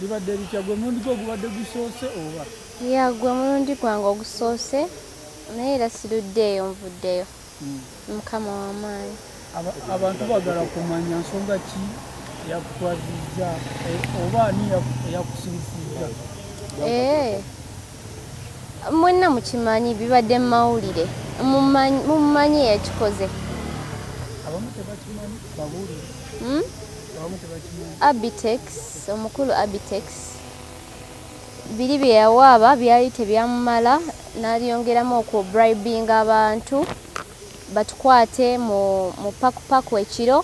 Bibadde bitya gwe mulundi gwo gubadde gusoose oba? Ya gwe mulundi gwange ogusoose naye era siruddeeyo nvuddeyo. Hmm. Mukama w'amaanyi. Abantu bagala kumanya nsonga ki yakutwazizza eh, oba ani eyakusirisizza? Eh. mwenna mukimanyi bibadde mumawulire mumumanyi yakikoze hmm? abitex omukulu abitex biri byeyawaaba byali tebyamumala nalyongeramu okwo bribing abantu batukwate mu pakupaku ekiro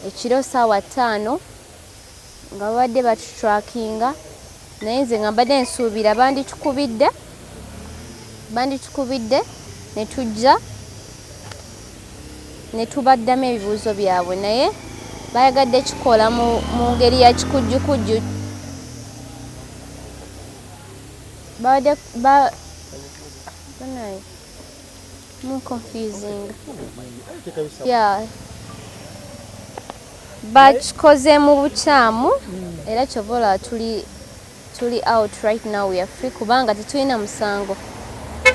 ekiro saawa ttaano nga babadde batutrakinga naye nze nga mbadde nsuubira banditukubidde banditukubidde ne tujja ne tubaddamu ebibuuzo byabwe naye bayagadde kikola mu ngeri ya kikujjukujju babadde More confusing. Yeah. bakikoze mu bukyamu era kyova olaba tuli tuli out right now we are free kubanga tetulina musango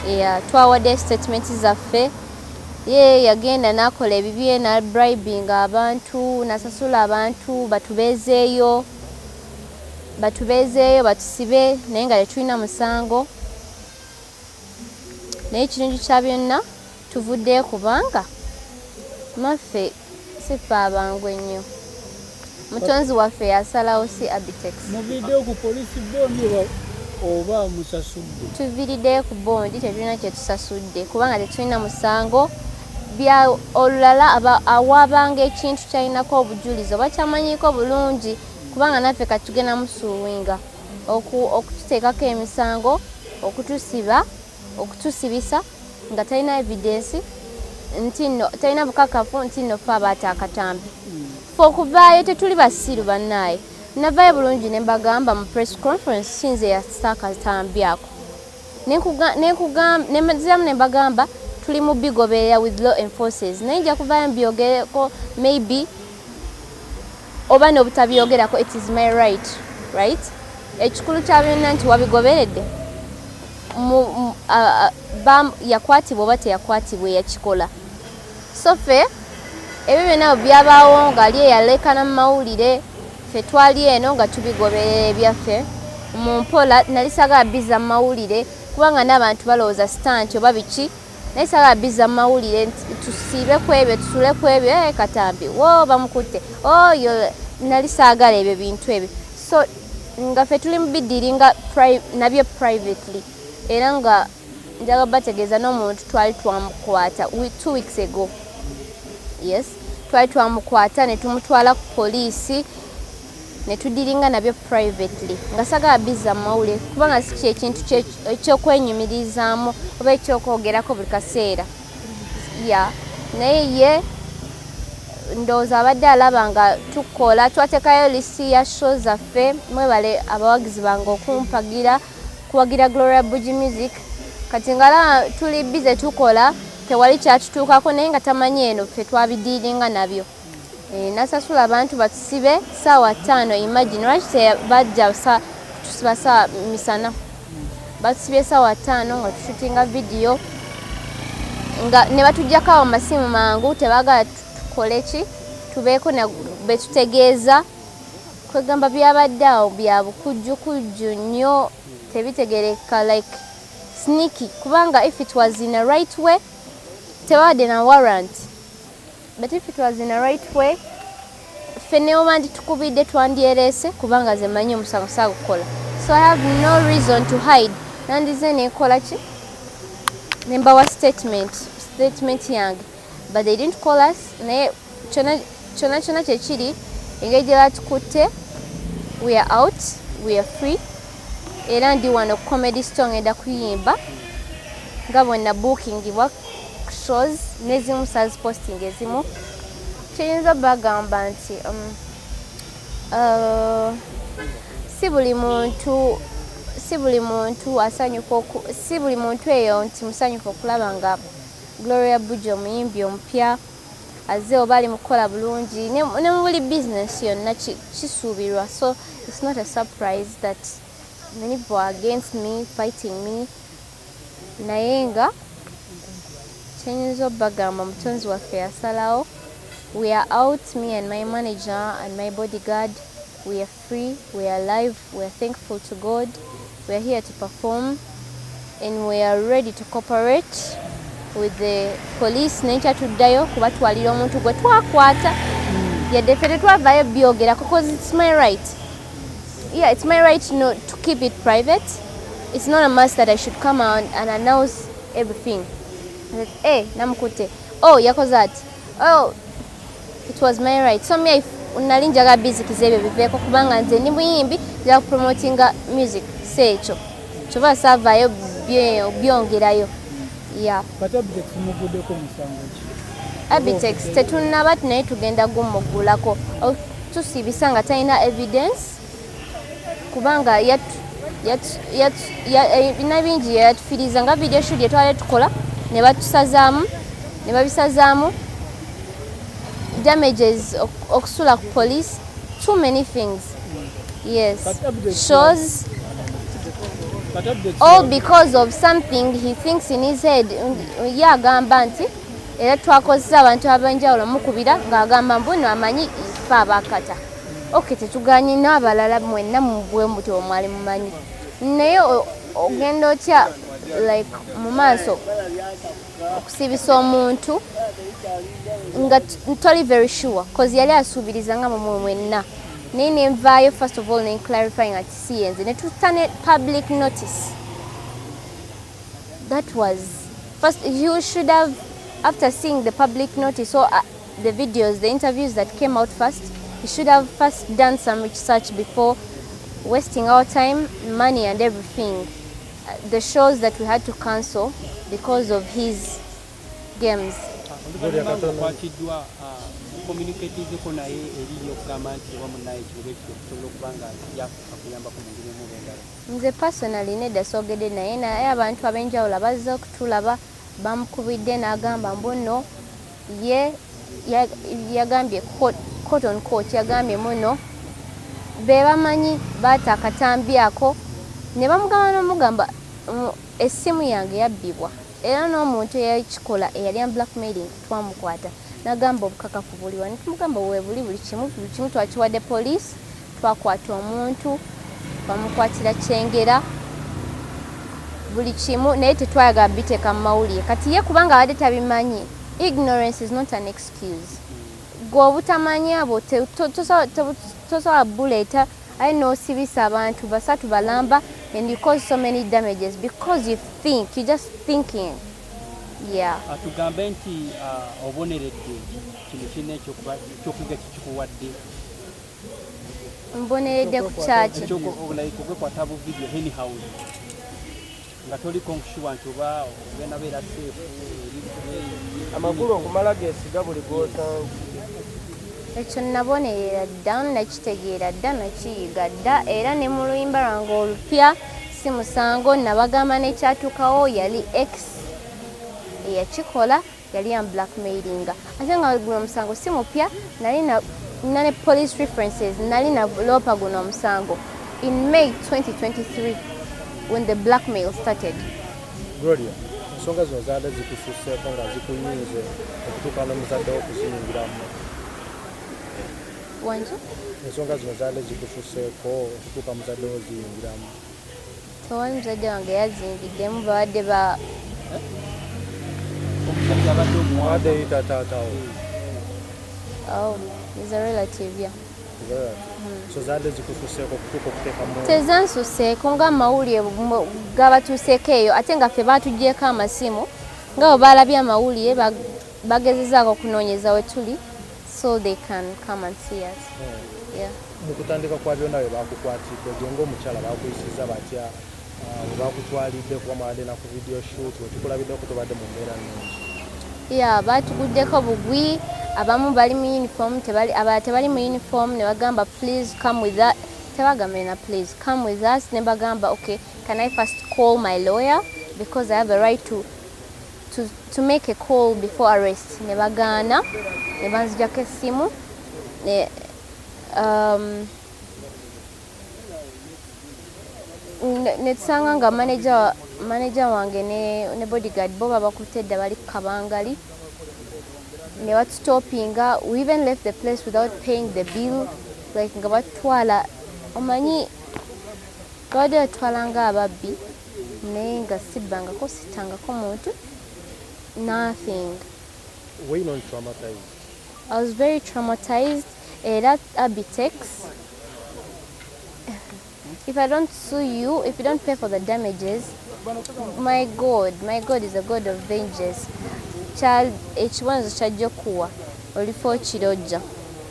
yeah, twawadde statement zaffe ye yagenda nakola ebibye na bribing abantu nasasula abantu batubezeeyo batubezeeyo batusibe naye nga tetulina musango naye ekirungi kya byonna tuvuddeyo kubanga maffe sife abangu ennyo mutonzi waffe yasalawo si abitex muviriddeyo ku polisi bondi oba musasudde tuviriddeyo ku bondi tetulina kyetusasudde kubanga tetulina musango bya olulala awaabanga ekintu kyalinako obujulizi oba kyamanyiko bulungi kubanga naffe katugenda musuuwinga okututeekako emisango okutusiba okutusibisa nga talina evidensi ntino talina bukakafu nti nno fe abaata akatambi fe okuvaayo tetuli basiru bannaaye navayo bulungi ne mbagamba mu press conference sinze yasa akatambi ako nenziramu ne mbagamba tuli mu bigoberera with law enforces naye nja kuvaayo mbyogereko maybe oba nobutabyogerako it is my right right ekikulu kya byonna nti wabigoberedde yakwatibwa oba teyakwatibwa eyakikola so fe ebyo byonna byabaawo ngaali eyalekana mu mawulire fe twali eno nga tubigoberera ebyaffe mu mpola nali sagala biza mu mawulire kubanga n'abantu balowooza sitanti oba biki naye saba biza mu mawulire nti tusiibe ku ebyo tusule ku ebyo e katambi wo bamukutte oyo oh, nali saagala ebyo bintu ebyo so nga fe tuli mubiddiri nga nabyo privately era nga njaga bategeeza n'omuntu twali twamukwata two weeks ago yes twali twamukwata ne tumutwala ku poliisi netudiringa nabyo privately nga sagala biza mawule kubanga si kyekintu ekyokwenyumirizaamu oba ekyokwogerako buli kaseera ya naye ye ndowooza abadde alaba nga tukola twatekayo lisiti ya show zaffe mwebale abawagizi bange okumpagira kuwagira gloria bugi music kati ngalaba tuli bize tukola tewali kyatutuukako naye nga tamanyi eno ffe twabidiiringa nabyo Eh, nasasula abantu batusibe saawa ttaano imagine lwaki tebajja kutusiba saawa misana batusibye saawa ttaano nga tushutinga vidiyo nga ne batujjako awo masimu mangu tebagala tukole ki tubeeko betutegeeza kwegamba byabadde awo bya bukujjukujju nnyo tebitegereka like sniki kubanga if it was in a right way tebabadde na warrant But if it was in a right way, ffe neobandi tukubidde twandyereese kubanga ze manyi omusango sagukola. So I have no reason to hide. Nandize nekola ki? Nembawa statement, statement yange. But they didn't call us. Naye chona chona chona kyekiri engeri gye batukutte we are out, we are free. era ndi wano ku comedy store ngenda kuyimba nga bwena bookingibwa shows nezimu saz posting ezimu kiyinza bagamba nti um, uh, si buli muntu si buli muntu asanyuka si buli muntu eyo nti musanyufu okulaba nga gloria buja omuyimbi omupya azze oba ali mukukola bulungi ne mu buli bizinesi yonna kisuubirwa so its not a surprise that many people are against me fighting me naye nga kyenyinza obagamba omutonzi waffe yasalawo we are out me and my manager and my bodyguard we are free we are live we are thankful to God we are here to perform and we are ready to cooperate with the police naye kyatuddayo kubatwalira omuntu gwe twakwata hmm. yadde ffe tetwavayo byogera because it's my right yeah it's my right no, to keep it private it's not a must that i should come out and announce everything hey, eh, namukutte oh yakoze ati oh It was my right. So me if nali njaga busy kizebe biveko kubanga nze ni muyimbi ya promoting music secho. Choba sava yo byo byongera yo. Yeah. But object mugude ko musango ki. Abitex tetunna bat naye tugenda gummugulako. Oh, tusibisa nga talina evidence. kubanga bina bingi yatufiriza nga video shoot yetwale tukola ne batusazaamu ne babisazaamu damages okusula ku police too many things yes shows all because of something he thinks in his head ye agamba nti era twakozesa abantu abenjawulo mukubira ng'agamba mbuno amanyi fe abakata ok tetuganye n'abalala mwenna mubwe mbuti omwali mumanyi naye ogenda otya like mu maaso okusibisa omuntu nga toli very sure cause yali asuubiriza nga mumwe mwenna naye nenvaayo first of all nenclarifying ati si yenze netutta ne public notice that was first you should have after seeing the public notice so uh, the videos, the interviews that came out first. He should have first done some research before wasting our time, money, and everything. Uh, the shows that we had to cancel because of his games. nze personally nedda soogedde naye naye abantu ab'enjawulo abazze okutulaba bamukubidde n'agamba mbu no ye yagambye court on court yagambye muno be bamanyi baata akatambi ako ne bamugamba n'omugamba essimu yange yabbibwa era n'omuntu eyakikola eyali am black mailing twamukwata nagamba obukakafu buliwa netumugamba webuli buli kimu buli kimu twakiwadde poliisi Twakwata omuntu bamukwatira kyengera buli kimu naye tetwayagala biteeka mu mawulire kati ye kubanga abadde tabimanyi ignorance is not an excuse gwe obutamanya bwo tosobola buleeta aye nosibisa abantu basatu balamba and you cause so many damages because you think you just thinking yeah atugambe nti uh, oboneredde kino kino ekyokuyiga kikikuwadde mboneredde ku kyaki nga toliko nkushuwa nti oba ogenda beera seefu amakulu okumala gesiga buli gwosanga ekyo nabonerera dda nakitegeera dda nakiyiga dda era ne mu luyimba lwange olupya si musango nabagamba nekyatuukawo yali x eyakikola yali ya blackmailinga ate nga guno omusango si mupya nali na ne police references nali na loopa guno omusango in may 2023 when the blackmail started gloria ensonga zino zaada zikususeeko nga zikunyinze okutuuka nomuzadde wo okuziyingiramu wangi ensonga zino zaada zikususeeko okutuuka muzadde wo ziyingiramu Tewali muzadde wange yazingiddemu babadde ba omusajja abadde omuwade yita taatawo oh, hmm. tezansuseeko nga amawulire gabatuuseeko eyo ate nga ffe baatugyeko amasimu nga bwe baalabye amawulire bagezezaako okunoonyeza we tuli so they can come and see us hmm. yeah mu kutandika kwa byonna bye bakukwatidde gwe ng'omukyala bakuyisiza batya ah, bwe bakutwalidde kuba mwabadde na ku video shoot wetukulabiddeko tobadde mu mbeera nungi ya batuguddeko bugwi abamu bali mu uniform tebali abala tebali mu uniform ne bagamba please come with that tebagambe na please come with us ne bagamba okay can i first call my lawyer because i have a right to to, to make a call before arrest ne bagaana ne banzijako essimu ne um, netusanga nga manager manager wange ne, ne bodyguard bo babakutte dda bali ku kabangali ne batutopinga we even left the place without paying the bill like nga batutwala omanyi babadde batutwala nga ababbi naye nga sibbangako sittangako muntu nothing Why not traumatized? I was very traumatized era abitex if I don't sue you if you don't pay for the damages my God my God is a God of vengeance ekibonerezo kyajja okuwa Olifa okirojja.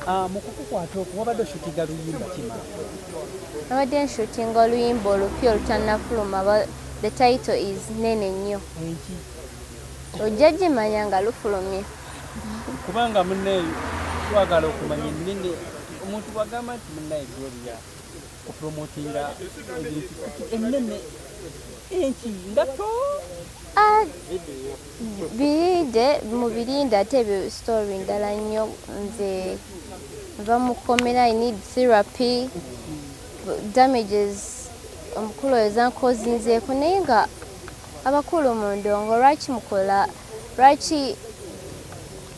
Ah, mu kukukwata okwo wabadde oshutinga luyimba kima? Nabadde nshutinga oluyimba olupya olutannafuluma the title is nene nnyo. Enki? Ojja gimanya nga lufulumye. Kubanga munneeyo twagala okumanya ennene omuntu bwagamba nti munnaye Gloria okupromotinga ebintu ennene enki nga to ah, Birinde mubirinde ate ebyo story ndala nnyo nze nva mu kkomera i need therapy damages omukulu oyo zankozinzeeko naye nga abakulu mu ndongo lwaki mukola lwaki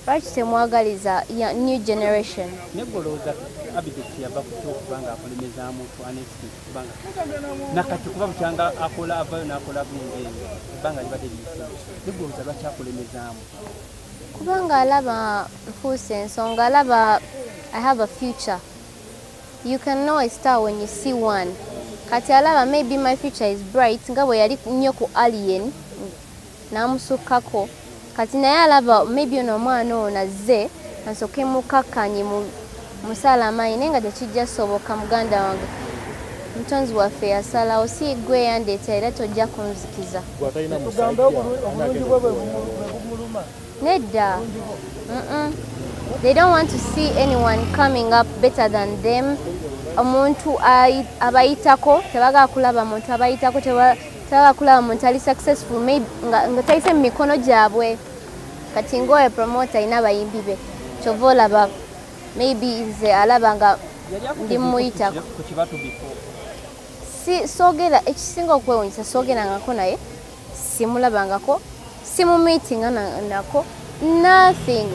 Lwaki temwagaliza ya new generation? Negolooza Abidex yava ku kyo okuba nga akulemezaamu ku anesti kuba nga nakati kuba bukyanga akola avayo n'akola bunga eyo ebbanga libadde liyise. Negolooza lwaki akulemezaamu? Kubanga alaba nfuuse ensonga alaba I have a future. You can know a star when you see one. Kati alaba maybe my future is bright nga bwe yali nnyo ku alien n'amusukkako kati naye alaba maybe ono omwana ono azze ansooke mukkakkanye mu musaala amaanyi naye nga tekijja soboka muganda wange omutonzi waffe yasalawo si gwe yandeeta era tojja kunzikiza nedda they don't want to see anyone coming up better than them omuntu abayitako tebagala kulaba muntu abayitako Taba kulaba muntu ali successful maybe nga taise mu mikono gyabwe kati ngoye promoter alina abayimbi be kyova olaba maybe nze alaba nga ndi mumuyitako si sogera ekisinga okwewunyisa sogerangako naye simulabangako simumitinga nako nothing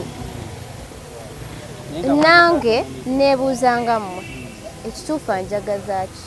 nange nebuuzangammwe ekituufu anjagazaaki